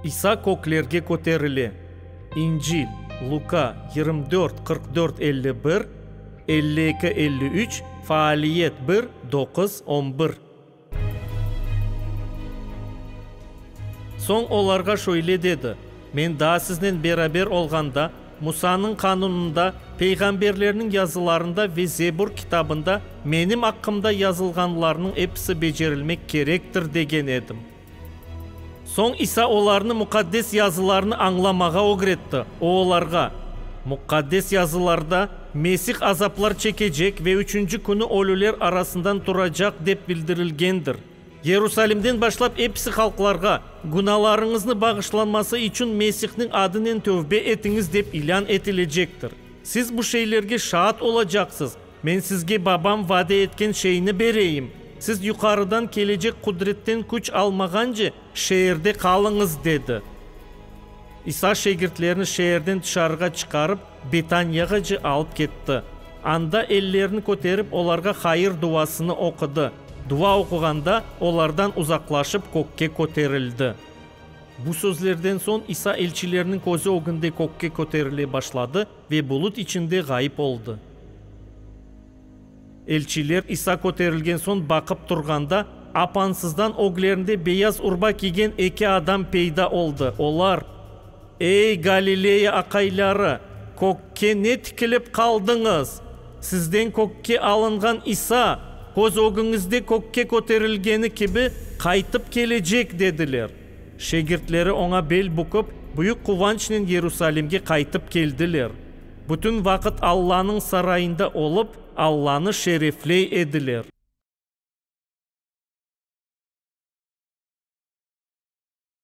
İsa köklerge köterile. İncil, Luka, yirmi dört, qırq dört, elli bir, elli eki, elli üç, Faaliyet bir, doquz, on bir. Soñ olarğa şöyle dedi, Men daa siznen beraber olğanda, Musanıñ qanunında, peyğamberlerniñ yazılarında ve Zebur kitabında menim aqqımda yazılğanlarnıñ episi becerilmek kerektir degen edim. Soñ İsa olarnı Muqaddes Yazılarnı añlamağa ögretti. O olarğa, Muqaddes Yazılarda, Mesih azaplar çekecek ve üçünci künü ölüler arasından turacaq dep bildirilgendir. Yerusalimden başlap episi halqlarğa, Günâlarıñıznı bağışlanması içün Mesihniñ adınen tövbe etiñiz dep ilân etilecektir. Siz bu şeylerge şaat olacaqsız. Men sizge Babam vade etken şeyni bereyim. Siz yuqarıdan kelecek qudretten küç almağance, şeerde qalıñız, dedi. İsa şegirtlerini şeerden tışarığa çıqarıp, Bitaniyagacı alıp ketti. Anda ellerini köterip olarğa hayır duasını oqudı. Dua oquğanda olardan uzaqlaşıp kökke köterildi. Bu sözlerden soñ İsa elçilerniñ közü ögünde kökke köterile başladı ve bulut içinde ğayıp oldı. Elçiler İsa köterilgen soñ baqıp turğanda, apansızdan öglerinde beyaz urba kiygen eki adam peyda oldı. Olar, Ey, Galileya aqayları, kökke ne tikilip qaldıñız? Sizden kökke alınğan İsa, köz ögüñizde kökke köterilgeni kibi, qaytıp kelecek, dediler. Şegirtleri oña bel bükip, büyük quvançnen Yerusalimge qaytıp keldiler. Bütün vaqıt Allanıñ sarayında olıp, Allanı şerefley ediler.